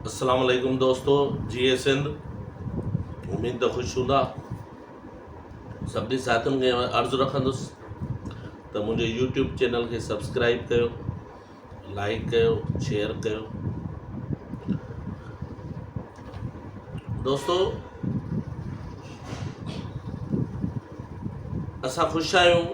اسلام عليڪم دوستو جي اي سنڌ اميد ته خوش هوندا سڀني ساٿين کي عرض رکندس ته منهنجي يوٽيوب چينل کي سبسڪرائب ڪيو لائڪ ڪيو شيئر ڪيو دوستو اسان خوش آهيون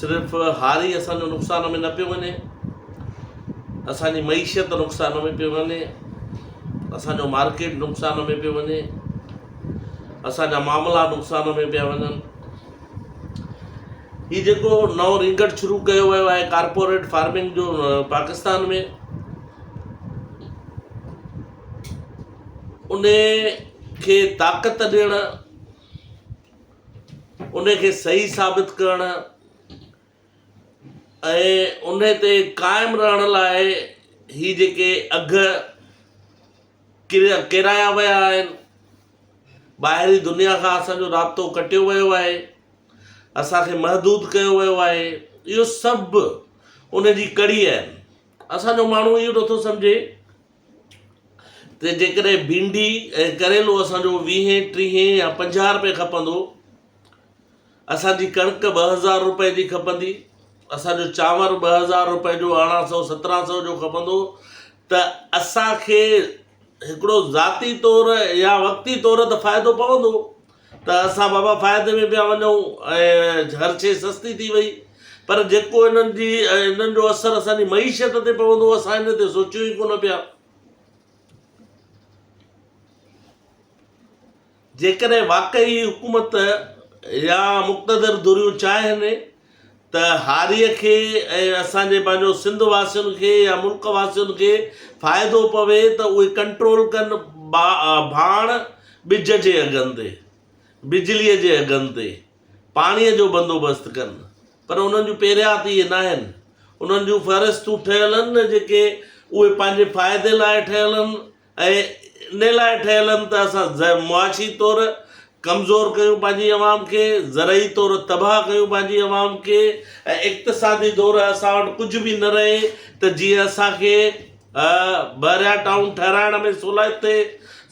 صرف هاري اسان جو نقصان ۾ نه پيو وڃي اسان جي معيشت نقصان ۾ پيو وڃي اسان جو مارڪيٽ نقصان ۾ پيو وڃي اسان جا معاملا نقصان ۾ پيا وڃن هي جيڪو نو رينگٽ شروع ڪيو ويو آهي ڪارپوريٽ فارمنگ جو پاڪستان ۾ ان کي طاقت ڏيڻ ان کي صحيح ثابت ڪرڻ ۽ ان تي قائم رهڻ لاء هي جيڪي اگهه ڪيرايا ويا آهن ٻاهرين دنيا کان اسان جو رابطو ڪٽيو ويو آهي اسانکي محدود ڪيو ويو آهي اهو سڀ ان جي ڪڙي آهن اسان جو ماڻهو اهو نٿو سمجهي ته جيڪڏهن ڀينڊي ۽ ڪريلو اسان جو ويهين، ٽيهين يا پنجاهه رپئي کپندو، اسان جي ڪڻڪ ٻه هزار رپئي جي کپندي، اسان جو چانور ٻه هزار رپئي جو ارڙهن سئو سترهن سئو جو کپندو ته اسان کي هڪڙو ذاتي طور يا وقتي طور ته فائدو پوندو ته اسان بابا فائدي ۾ پيا وڃون ۽ هر شيء سستي ٿي وئي پر جيڪو انهن جي انهن جو اثر اسان جي معيشت تي پوندو اسان ان تي سوچيون ئي ڪونه پيا. جيڪڏهن واقعي حڪومت يا مقتدر ڌريون چاهين ته هاريء کي ۽ اسان جي پنهنجو سنڌ واسين کي يا ملڪ واسين کي فائدو پوي ته اهي ڪنٽرول ڪن ڀاڻ ٻج جي اگهن تي، بجليء جي اگهن تي، پاڻيء جو بندوبست ڪن. پر انهن جون پيريات اهي ناهن. انهن جون فهرستون ٺهيل آهن نه جيڪي اهي پنهنجي فائدي لاء ٺهيل آهن. ۽ ان لاء ٺهيل آهن ته اسان معاشي طور ڪمزور ڪيون پنهنجي عوام کي، زرعي طور تباهه ڪيون پنهنجي عوام کي ۽ اقتصادي طور اسان وٽ ڪجهه به نه رهي ته جيئن اسان کي بحريا ٽائون ٺهرائڻ ۾ سولائت ٿئي،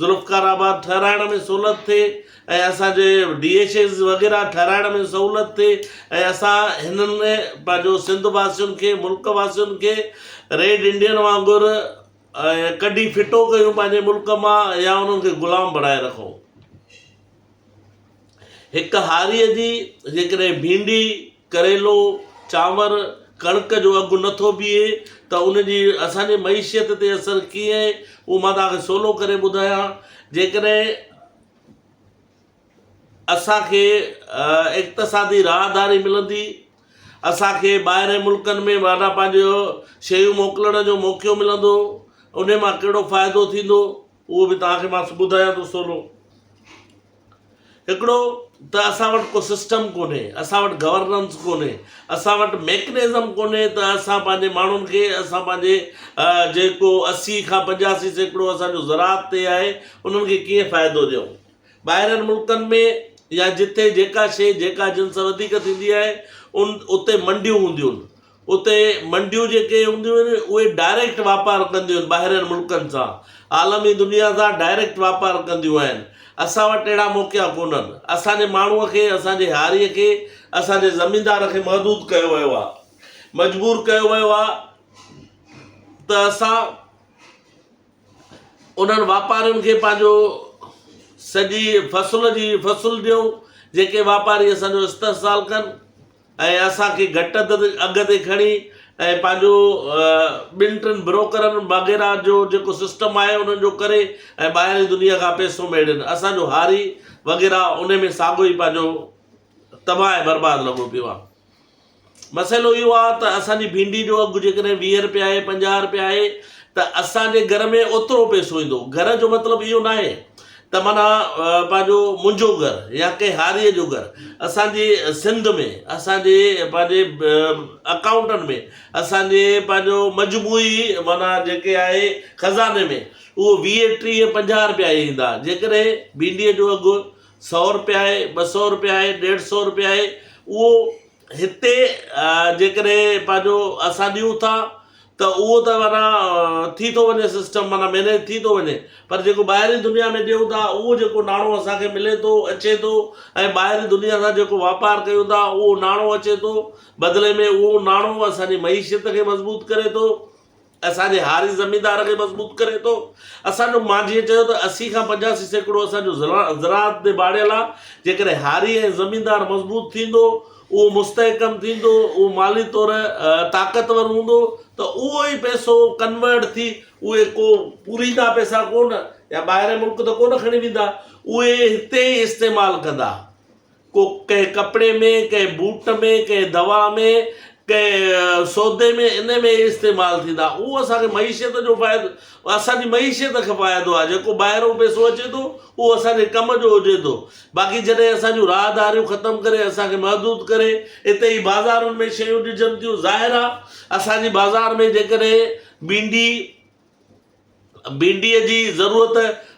ذوالفقار آباد ٺهرائڻ ۾ سهولت ٿئي ۽ اسان جي ڊي ايڇ ايز وغيره ٺهرائڻ ۾ سهولت ٿئي ۽ اسان هنن ۾ پنهنجو سنڌ واسين کي ملڪ واسين کي ريڊ انڊين وانگر ۽ ڪڍي ڦٽو ڪيون پنهنجي ملڪ مان يا انهن کي غلام بڻائي رکو. هڪ هاريء جي جيڪڏهن ڀينڊي، ڪريلو، چانور، ڪڻڪ جو اگهه نه ٿو بيهي ته ان جي اسان جي معيشت تي اثر ڪيئن اهو مان توهان کي سولو ڪري ٻڌايان. جيڪڏهن. اسان کي اقتصادي راهداري ملندي، اسان کي ٻاهرين ملڪن ۾ واڍا پانجو شيون موڪلڻ جو موقعو ملندو، انهي مان ڪهڙو فائدو ٿيندو اهو به توهان کي مان ٻڌايان ٿو سولو. هڪڙو ته اسان وٽ ڪو سسٽم ڪونهي، اسان وٽ گورننس ڪونهي، اسان وٽ ميڪنزم ڪونهي ته اسان پانجي ماڻهن کي اسان پانجي جيڪو اسي کان پنجاسي سيڪڙو اسان جو زراعت تي آهي انهن کي ڪيئن فائدو ڏيون. ٻاهرين ملڪن ۾ يا جتي جيڪا شيء جيڪا جنس وڌيڪ ٿيندي آهي ان اتي منڊيون هونديون آهن اتي منڊيون جيڪي هونديون آهن اهي ڊائريڪٽ واپار ڪنديون آهن ٻاهرين ملڪن سان عالمي دنيا سان ڊائريڪٽ واپار ڪنديون آهن اسان وٽ اهڙا موقعا ڪونهن اسانجي ماڻهو کي اسانجي هاري کي اسانجي زميندار کي محدود ڪيو ويو آهي مجبور ڪيو ويو آهي ته اسان انهن واپارين کي پنهنجو سڄي فصل جي فصل ڏيون جيڪي واپاري اسان جو استحصال ڪن ۽ اسان کي گهٽ اگهه تي کڻي ۽ پنهنجو ٻن ٽن بروڪرن وغيره جو جيڪو سسٽم آهي انهن جو ڪري ۽ ٻاهر جي دنيا کان پيسو ميڙين اسان جو هاري وغيره ان ۾ ساڳو ئي پنهنجو تباهه ۽ برباد لڳو پيو آهي مسئلو اهو آ ته اسان جي ڀينڊي جو اگهه جيڪڏهن ويهه رپيا آهي پنجاهه رپيا آهي ته اسان جي گهر ۾ اوترو پئسو ايندو گهر جو مطلب اهو ناهي ته معنيٰ پنهنجو منهنجو گهر يا ڪنهن هاريء جو گهر اسان جي سنڌ ۾ اسان جي پنهنجي اڪائونٽن ۾ اسان جي پنهنجو مجموعي معنيٰ جيڪي آهي خزاني ۾ اهو ويهه ٽيهه پنجاهه رپيا ايندا جيڪڏهن ڀينڊيء جو اگهه سؤ روپيا آهي، ٻه سؤ روپيا آهي، ڏيڍ سؤ روپيا آهي، اهو هتي جيڪڏهن پنهنجو اسان ڏيون ٿا ته اهو ته معنيٰ ٿي ٿو وڃي سسٽم معنيٰ مينيج ٿي ٿو وڃي پر جيڪو ٻاهرين دنيا ۾ ڏيون ٿا اهو جيڪو ناڻو اسانکي ملي ٿو اچي ٿو ۽ ٻاهرين دنيا سان جيڪو واپار ڪيون ٿا اهو ناڻو اچي ٿو بدلي ۾ اهو ناڻو اسانجي معيشت کي مضبوط ڪري ٿو اسان جي هاري زميندار کي مضبوط ڪري ٿو. اسان جو مانجهيء چيو ته اسي کان پنجاسي سيڪڙو اسان جو زراعت تي ڀاڙيل آ، جيڪڏهن هاري ۽ زميندار مضبوط ٿيندو، اهو مستحڪم ٿيندو، اهو مالي طور طاقتور هوندو ته اهو ئي پئسو ڪنورٽ ٿي اهي ڪو پوريندا پئسا ڪو نه يا ٻاهرين ملڪ ته ڪو نه کڻي ويندا، اهي هتي ئي استعمال ڪندا. ڪو ڪنهن ڪپڙي ۾، ڪنهن بوٽ ۾، ڪنهن دوا ۾، ڪنهن سودي ۾ ان ۾ استعمال ٿيندا اهو اسان کي معيشت جو فائدو اسانجي معيشت کي فائدو آهي جيڪو ٻاهرو پيسو اچي ٿو اهو اسانجي ڪم جو هجي ٿو باقي جڏهن اسانجو راهداريون ختم ڪري اسانکي محدود ڪري اتي ئي بازارن ۾ شيون ڏجن ٿيون ظاهر آهي اسانجي بازار ۾ جيڪڏهن ڀينڊي ڀينڊيء جي ضرورت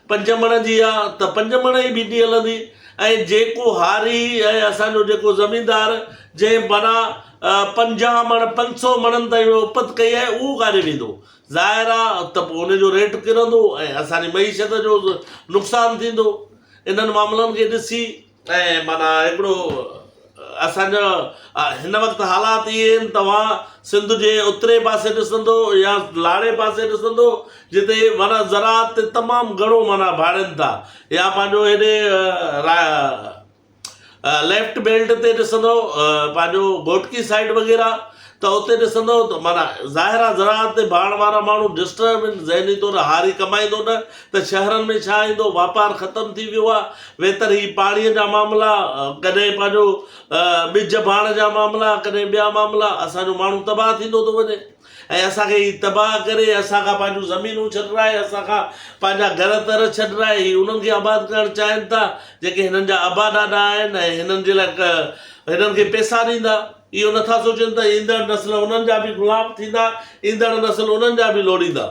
پنج مڻ جي آ ته پنج مڻ ئي ڀينڊي هلندي ۽ جيڪو هاري ۽ اسان جو جيڪو زميندار جنهن بنا پنجاهه مڻ پنج سو مڻن تائين جو اپت ڪئي آهي اهو ڪاڏي ويندو ظاهر آ ته پوء ان جو ريٽ ڪرندو ۽ اسان جي معيشت جو نقصان ٿيندو انهن معاملن کي ڏسي ۽ معنيٰ هڪڙو اسان جو هن وقت حالات اهي آهن توهان سنڌ جي اترئين پاسي ڏسندو يا لاڙي پاسي ڏسندو جتي معنيٰ زراعت تي تمام گهڻو معنيٰ ڀاڙين ٿا يا پنهنجو هيڏي را ليفٽ بيلٽ تي ڏسندو پنهنجو گهوٽڪي سائيڊ وغيره ته اتي ڏسندؤ ته معنيٰ ظاهر آ زراعت تي ڀاڻ وارا ماڻهو ڊسٽرب ان ذهني طور هاري ڪمائيندو نه ته شهرن ۾ ڇا ايندو واپار ختم ٿي ويو آ ويتر هي پاڻي جا معاملا ڪڏهن پنهنجو ٻج ڀاڻ جا معاملا ڪڏهن ٻيا معاملا اسان جو ماڻهو تباهه ٿيندو ٿو وڃي ۽ اسان کي هي تباهه ڪري اسان کان پنهنجون زمينون ڇڏرائي اسان کان پنهنجا گهر تر ڇڏرائي هي انهن کي آباد ڪرڻ چاهين ٿا جيڪي هنن جا ابا ڏاڏا آهن ۽ هنن جي لاء هنن کي پيسا ڏيندا اهو نه ٿا سوچين ته ايندڙ نسل انهن جا به غلام ٿيندا، ايندڙ نسل انهن جا به لوڙيندا.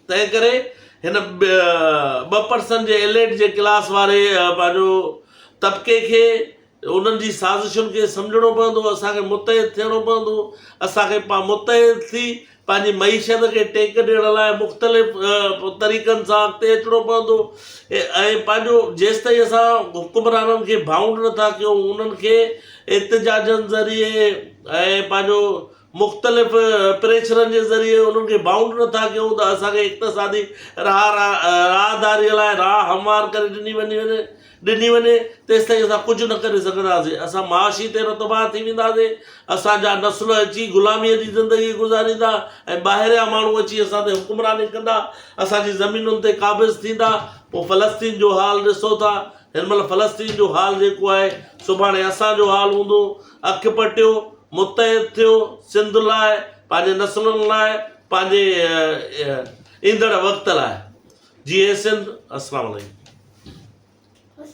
تنهنڪري هن ٻه پرسن جي ايليٽ جي ڪلاس واري پنهنجو طبقي کي انهن جي سازشن کي سمجهڻو پوندو، اسان کي متحد ٿيڻو پوندو، اسان کي متحد ٿي پنهنجي معيشت کي ٽيڪ ڏيڻ لاء مختلف طريقن سان اڳتي اچڻو پوندو ۽ پنهنجو جيستائين اسان حڪمرانن کي بائونڊ نٿا ڪيون انهن کي احتجاجن ذريعي ۽ پنهنجو مختلف پريشرن جي ذريعي انهن کي بائونڊ نٿا ڪيون ته اسان کي اقتصادي راهه راهداري لاء راهه هموار ڪري ڏني وڃي وڃي ڏني وڃي، تيستائين اسان ڪجهه نه ڪري سگهنداسين. اسان معاشي طير تباهه ٿي وينداسين. اسان جا نسل اچي غلاميء جي زندگي گذاريندا ۽ ٻاهريان ماڻهو اچي اسان تي حڪمراني ڪندا. اسان جي زمينن تي قابض ٿيندا. پوء فلسطين جو حال ڏسو ٿا. هن مهل فلسطين جو حال جيڪو آهي، سڀاڻي اسان جو حال هوندو. اک پٽيو، متحد ٿيو، سنڌ لاء، پنهنجي نسلن لاء، پنهنجي ايندڙ وقت لاء جي اي سنڌ اسلام عليڪم.